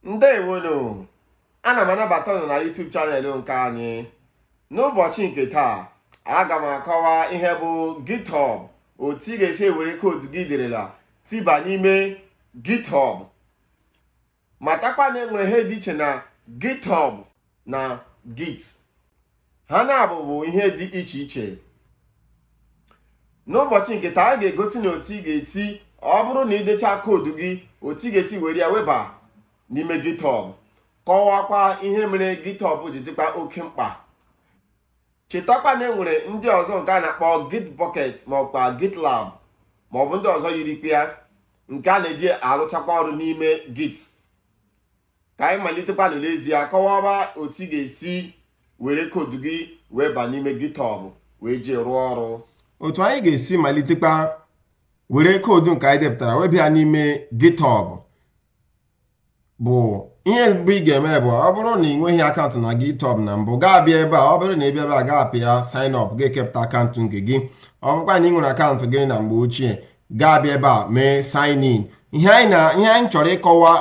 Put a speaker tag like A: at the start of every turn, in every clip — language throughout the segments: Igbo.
A: ndewonu ana m anabata ụnụ na YouTube chanel nke anyị n'ụbọchị nke taa aga m akọwa ihe bụ GitHub otu ị ga-esi ewere koodu gị i derela tiba n'ime GitHub matakwa na enwere ihe dị iche na GitHub na git ha naabọ bụ ihe dị iche iche n'ụbọchị nke taa a ga-egosi ụnụ otu ị ga-esi ọ bụrụ na idecha koodu gị otu ị ga-esi were ya weba n'ime github kọwakwa ihe mere github ji dịkwa oke mkpa chetakwa na enwere ndị ọzọ nke a na-akpọ git bucket maọbụkwa gitlab maọbụ ndị ọzọ yirikwa ya nke a na-eji arụchakwa ọrụ n'ime git ka anyị malitekwanụ n'ezie kọwaba otu ị ga-esi were koodu gị weba n'ime GitHub wee jiri rụọ ọrụ otu anyị ga-esi
B: malitekwa were koodu nke anyị depụtara weba n'ime GitHub bụ ihe mbụ ị ga-eme bụ ọ bụrụ na ị nweghị akaụntụ na GitHub na mbụ ga-abịa ebe a ọ bụrụ na ị bịa ebe a ga-apịa sign up ga-ekepụta akaụntụ nke gị ọ bụrụkwa na ị nwere akaụntụ gị na mgbe ochie ga-abịa ebe a mee sign in ihe anyị chọrọ ịkọwa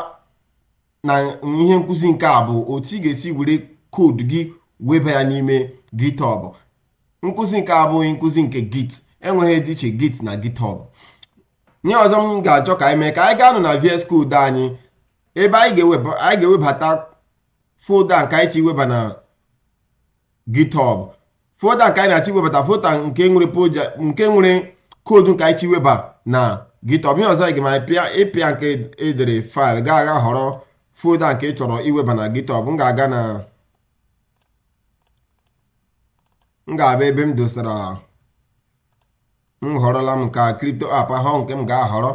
B: na ihe nkụzi nke a bụ otu ị ga-esi were koodu gị weba ya n'ime GitHub nkụzi nke a abụghị nkụzi nke Git enwere ihe dị iche Git na GitHub ihe ọzọ m ga-achọ ka anyị mee ka anyị gaanụ na VS Code anyị ebe anyị ga-ewebata folda nke anyị chọ iweba na github folda nke anyị na-achọ iwebata folda nke nwere koodu nke anyị chọ iweba na github ihe ọzọ ị ga-eme bụ ịpịa nke edere faịlụ ga-aga họrọ folda nke ị chọrọ iweba na github m ga-aga na m ga-abịa ebe m dosara m họrọla m ka crypto app ahụ nke m ga-ahọrọ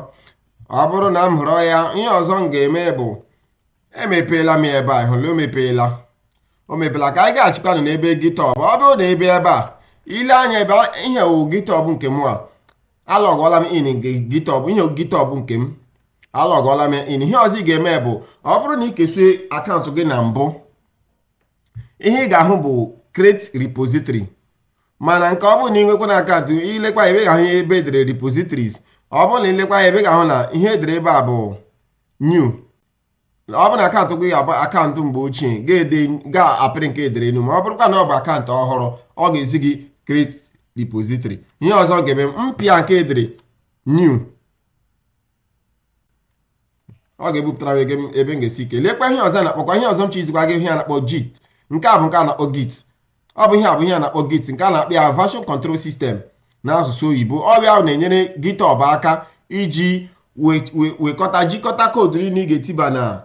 B: ọ bụrụ na m họrọ ya ihe ọzọ m ga-eme bụ emepeela m ebe a ị hụla o mepeela o mepeela ka anyị gachikwanụ n'ebe GitHub ọ bụrụ na ị bịa ebe a ile anya ebe ihe wụ GitHub nke m a alọgọla m in nke GitHub ihe GitHub nke m alọgọla m in ihe ọzọ ị ga-eme bụ ọ bụrụ na ị kesịa akaụntụ gị na mbụ ihe ị ga-ahụ bụ create repository mana nke ọ bụrụ na inwekwanụ akaụntụ ilekwa ebe a ga-ahụ ihe ebe edere repositories ọ bụrụ na ilekwa ebe a ga-ahụ na ihe edere ebe a bụ new ọ bụrụ na akaụntụ gị bụ akaụntụ mgbe ochie ga-apịrị nke edere new ma ọ bụrụkwa na ọ bụ akaụntụ ọhụrụ ọ ga-ezi gị create repository ihe ọzọ m ga-eme m pịa nke edere new ọ ga-ebupụtara m ebe m- ebe m ga-esi kee lekwa ihe ọzọ a na-akpọkwa ihe ọzọ m chọ izikwa gị ihe a na-akpọ git nke a bụ nke a na-akpọ git ọ bụ ihe a bụ ihe a na-akpọ git nke a na-akpọ ya version control system n'asụsụ oyibo ọ bụ ya na-enyere github aka iji we- we- wekọta jikọta koodu niile ị ga-etiba na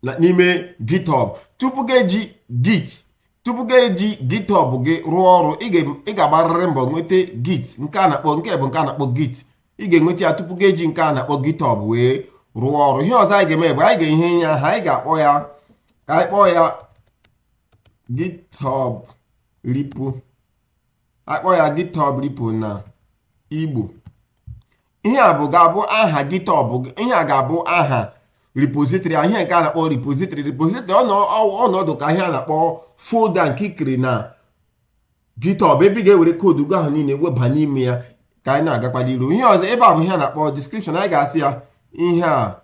B: na- n'ime github tupu gị eji git tupu gị eji github gị rụọ ọrụ ị ga- ị ga-agbarịrị mbọ nweta git nke a na-akpọ nke bụ nke a na-akpọ git ị ga-enweta ya tupu gị eji nke a na-akpọ GitHub wee rụọ ọrụ ihe ọzọ anyị ga-eme bụ anyị ga-enye ya aha anyị ga-akpọ ya ka anyị kpọọ ya GitHub repo akpọ ya GitHub repo na Igbo ihe a bụ ga-abụ aha GitHub ihe a ga-abụ aha repository a ihe nke a na-akpọ repository repository ọ na-adị ka ihe a na-akpọ folda nke i kere na github ebe ị ga-ewere koodu gị ahụ niile weba n'ime ya ka anyị na-agakwala iru ihe ọzọ ebe a bụ ihe a na-akpọ description anyị ga-asị ya ihe a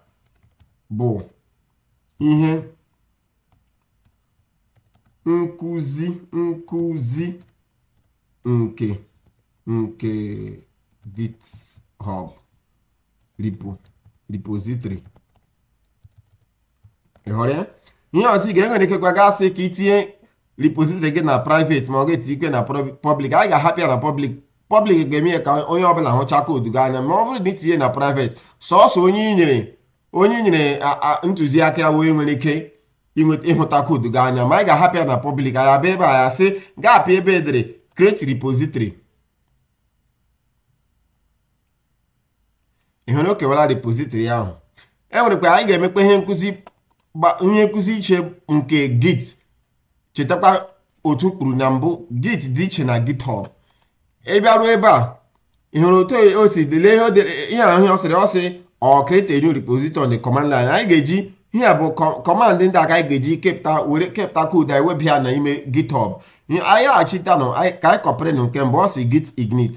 B: bụ ihe nkụzi nkụzi nke nke GitHub repo repository ị hụrụ ya ihe ọzọ ị ga-enwere ikekwa ga-asị ka i tinye repository gị na private ma ọ ga-etikwe na public anyị ga-ahapụ ya na public public ga-eme ya ka onye ọbụla hụcha koodu gị anya ma ọ bụrụ na i tinye na private sọsọ onye i nyere onye nyere ntụziaka ya wee nwere ike ịhụta koodu gị anya ma anyị ga-ahapụ ya na public anyị abịa ebe a ya sị ga-apịa ebe e dere create repository ị hụrụ o kewara repository ahụ e nwerekwa anyị ga-emekwa ihe nkụzi gba- ihe nkụzi iche nke git chetakwa otu m kwuru na mbụ git dị iche na github ị bịaruo ebe a ị hụrụ otu o si lelee ihe o dere ihe ahụ ọ sịrị ọ sị ọ create a new repository on the command line anyị ga-eji ihe a bụ kọ- command ndị a ka anyị ga-eji kepụta were kepụta koodu anyị weba ya n'ime github Ihe- anyị laghachitanụ anyị- ka anyị kọpịrịnụ nke mbụ ọ sị git init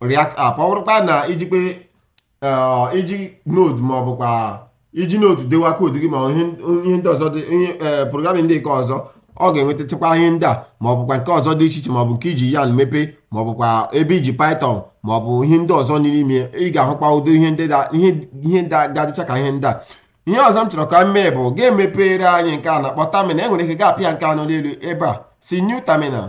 B: React app ọ bụrụkwa na i jikwa eh, i ji node ma ọ bụkwa i ji node dewa koodu gị ma ọ ihe ihe ndị ọzọ dị ihe eh, programming ndị nke ọzọ ọ ga-enwetachakwa ihe ndị a ma ọ bụkwa nke ọzọ dị iche iche ma ọ bụ nke i ji yarn mepee ma ọ bụkwa ebe i ji python ma ọ bụ ihe ndị ọzọ n'ime ị ga-ahụkwa ụdị ihe ndị da- ihe ihe ndị a ga-adịcha ka ihe ndị a ihe ọzọ m chọrọ ka m mee bụ ga-emepere anyị nke a na-akpọ terminal i nwere ike gaa pịa nke a nọ n'elu ebe a sị new terminal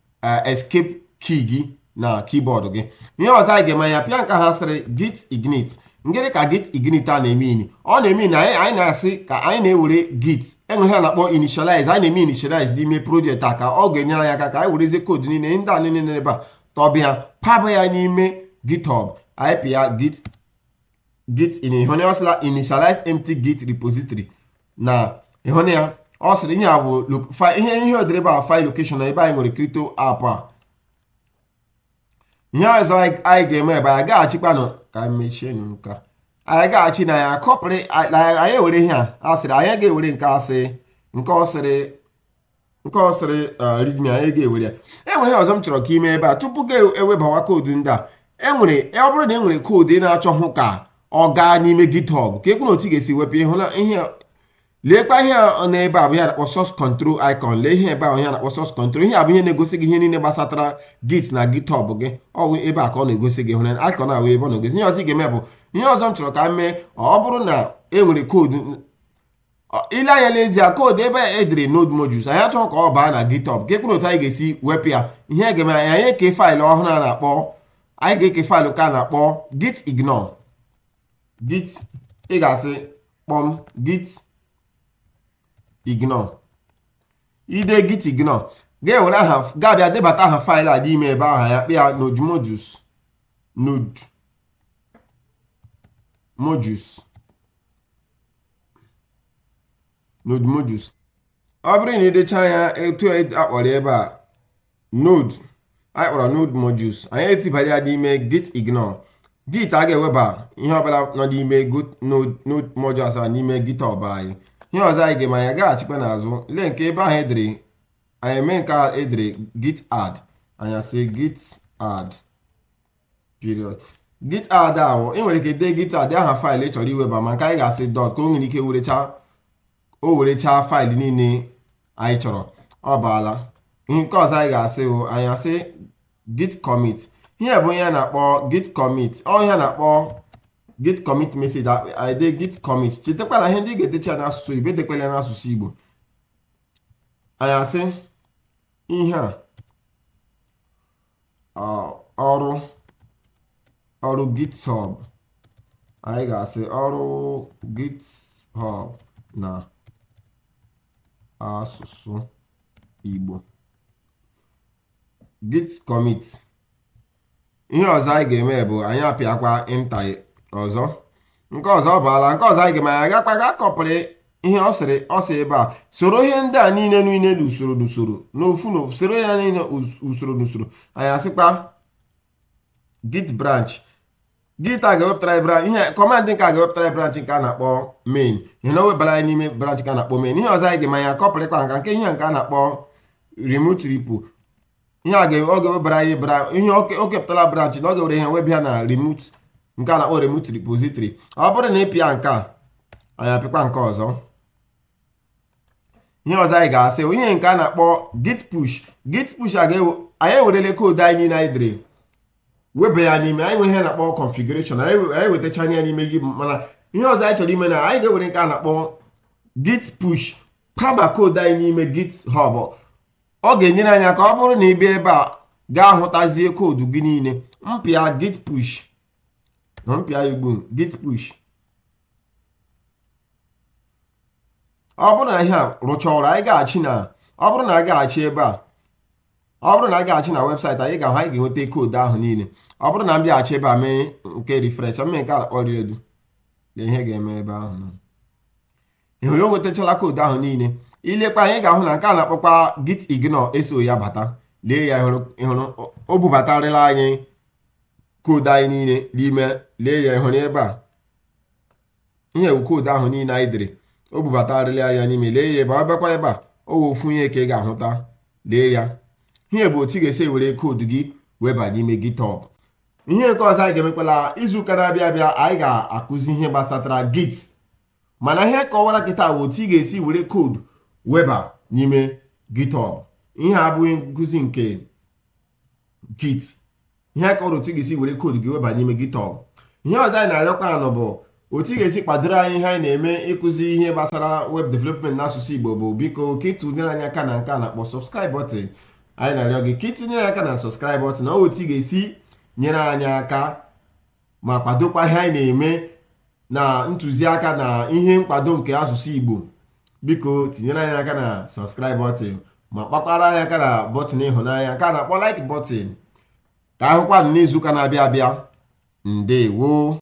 B: eh, escape key gị na keyboard gị ihe ọzọ anyị ga-eme ya pịa nke ha sịrị git init gịnị ka git init a na-eme ini ọ na-eme ini anyị na-asị ka anyị na-ewere git eme ihe a na-akpọ initialize anyị na-eme initialize n'ime project a ka ọ ga-enyere anyị aka ka anyị werezie koodu niile ndị a niile n'ebe a tụba ya paba ya n'ime github anyị pịa git git ịhụna ọ sịla initialize empty git repository na ịhụna ya ọ sịrị ihe a bụ ihe o dere ebe a file location na ebe anyị nwere crypto app a ihe ọzọ anyị ga-eme ebe anyị gaghachikwanụ ka anyị mechie nke a anyị gaghachi anyị akọpịrị anyị ewere ihe a a sịrị anyị ga-ewere nke a sị nke ọ sịrị nke ọ sịrị readme anyị ga-ewere ya enwere ihe ọzọ m chọrọ ka i mee ebe a tupu gị ewebawa koodu ndị a enwere ọ bụrụ na e nwere koodu ị na-achọhụ ka ọ gaa n'ime github ka ekwu na otu a ga-esi wepụ ịhụna ihe leekwa ihe a n'ebe a bụ ihe a na-akpọ source control icon lee ihe ebe ahụ ihe a na-akpọ source control ihe a bụ ihe na-egosi gị ihe niile gbasatara git na github gị ọ bụ ebe a ka ọ na-egosi gị hụrụ icon ahụ ebe ọ na-egosi ihe ọzọ ị ga-eme bụ ihe ọzọ m chọrọ ka m mee ọ bụrụ na e nwere koodu i lee anya lezie koodu ebe a edere node modules anyị achọghị ka ọ baa na github ka ekwuru otu anyị ga-esi wepụ ya ihe a ga-eme anyị eke faịlụ ọhụrụ a na-akpọ anyị ga-eke faịlụ nke a na-akpọ git ignore git ị ga-asị kpọm git ignore i dee git ignore ga-ewere aha ga-abịa debata aha faịlụ a dị ime ebe ahụ ya kpịa node modules node modules node modules ọ bụrụ na idecha ya etu akpọrọ ebe a node anyị kpọrọ node modules anyị etibara ya n'ime git ignore git agaghị eweba ihe ọbụla nọ n'ime node modules a n'ime github anyị ihe ọzọ anyị ga-eme anyị gaghachikwa n'azụ lee nke ebe ahụ edere anyị mee nke a edere git add anyị asị git add period git add ahụ ị nwere ike dee git add aha faịlụ ị chọrọ iweba ma nke anyị ga-asị dọt ka o nwere ike werecha o werechaa faịlụ niile anyị chọrọ ọ baala nke ọzọ anyị ga-asị bụ anyị asị git commit ihe a bụ ihe a na-akpọ git commit ọ ihe a na-akpọ git commit message anyị dee git commit chetakwa na ihe ndị a ị ga-edecha n'asụsụ oyibo edekwala n'asụsụ Igbo anyị asị ihe a ọrụ ọrụ github anyị ga-asị ọrụ github na asụsụ Igbo git commit ihe ọzọ anyị ga-eme bụ anyị apịakwa enter ọzọ nke ọzọ baala nke ọzọ anyị ga-eme anyị agakwa ga kọpịrị ihe ọ sịrị ọ sị ebe a soro ihe ndị a niile niile n'usoro n'usoro n'ofu na soro ya niile usoro n'usoro anyị asịkwa git branch git a ga-ewepụtara branch ihe kọmandị nke a ga-ewepụtara branch nke a na-akpọ main ịhụna o webara anyị n'ime branch nke a na-akpọ main ihe ọzọ anyị ga-eme anyị akọpịrịkwa nke a nke ihe nke a na-akpọ remote repo ihe a ga-eme ọ ga-ewebara anyị bra ihe ọ ke- ọ kepụtala branch na ọ ga-ewere ihe webe ya na remote nke a na-akpọ remote repository ọ bụrụ na ị pịa nke a anyị apịakwa nke ọzọ ihe ọzọ anyị ga-asị bụ ihe nke a na-akpọ git push git push a ga-ewe anyị ewerele koodu anyị niile anyị dere weba ya n'ime anyị nwere ihe a na-akpọ configuration anyị we- anyị wetachaala ya n'ime git mana ihe ọzọ anyị chọrọ ime na anyị ga-ewere nke a na-akpọ git push kwaba koodu anyị n'ime GitHub ọ ga-enyere anyị aka ọ bụrụ na ị bịa ebe a ị ga-ahụtazi koodu gị niile m pịa git push na m pịa ya ugbu a git push ọ bụrụ na ihe a rụcha ọrụ anyị gaghachi na ọ bụrụ na a gaghachi ebe a ọ bụrụ na a gaghachi na website anyị ga-ahụ anyị ga-enweta koodu ahụ niile ọ bụrụ na m bịaghachi ebe a mee nke refresh mee nke a kpọrọ redo lee ihe ga-eme ebe ahụ nọ ị hụrụ o nwetachala koodu ahụ niile i lekwa anya ị ga-ahụ na nke a na-akpọkwa git ignore eso ya bata lee ya ị hụrụ o bubatarịla anyị koodu anyị niile n'ime lee ya ị hụrụ ebe a ihe a wụ koodu ahụ niile anyị dere o bubatarịla ya n'ime lee ya ebe ị bịakwa ebe a ọ wụ ofu ihe ka ị ga-ahụta lee ya ihe a bụ otu ị ga-esi ewere koodu gị weba n'ime GitHub ihe nke ọzọ anyị ga-emekwa n'izuụka na-abịa abịa anyị ga-akụzi ihe gbasatara git mana ihe a kọwaara gị taa wụ otu ị ga-esi were koodu weba n'ime GitHub ihe a abụghị nkụzi nke Git ihe a kọwara otu ị ga-esi were koodu gị weba n'ime GitHub ihe ọzọ anyị na-arịọkwa ụnụ bụ otu ị ga-esi kwadoro anyị ihe anyị na-eme ịkụzi ihe gbasara web development n'asụsụ Igbo bụ biko ka i tinyere anyị aka na nke a na-akpọ subscribe button anyị na-arịọ gị ka i tinyere aka na subscribe button na otu ị ga-esi nyere anyị aka ma kwadokwa ihe anyị na-eme na ntụziaka na ihe nkwado nke asụsụ Igbo biko tinyere anyị aka na subscribe button ma kpakwara anyị aka na bọtịn ịhụnanya nke a na-akpọ like button ka a hụkwanụ n'izuụka na-abịa abịa ndewo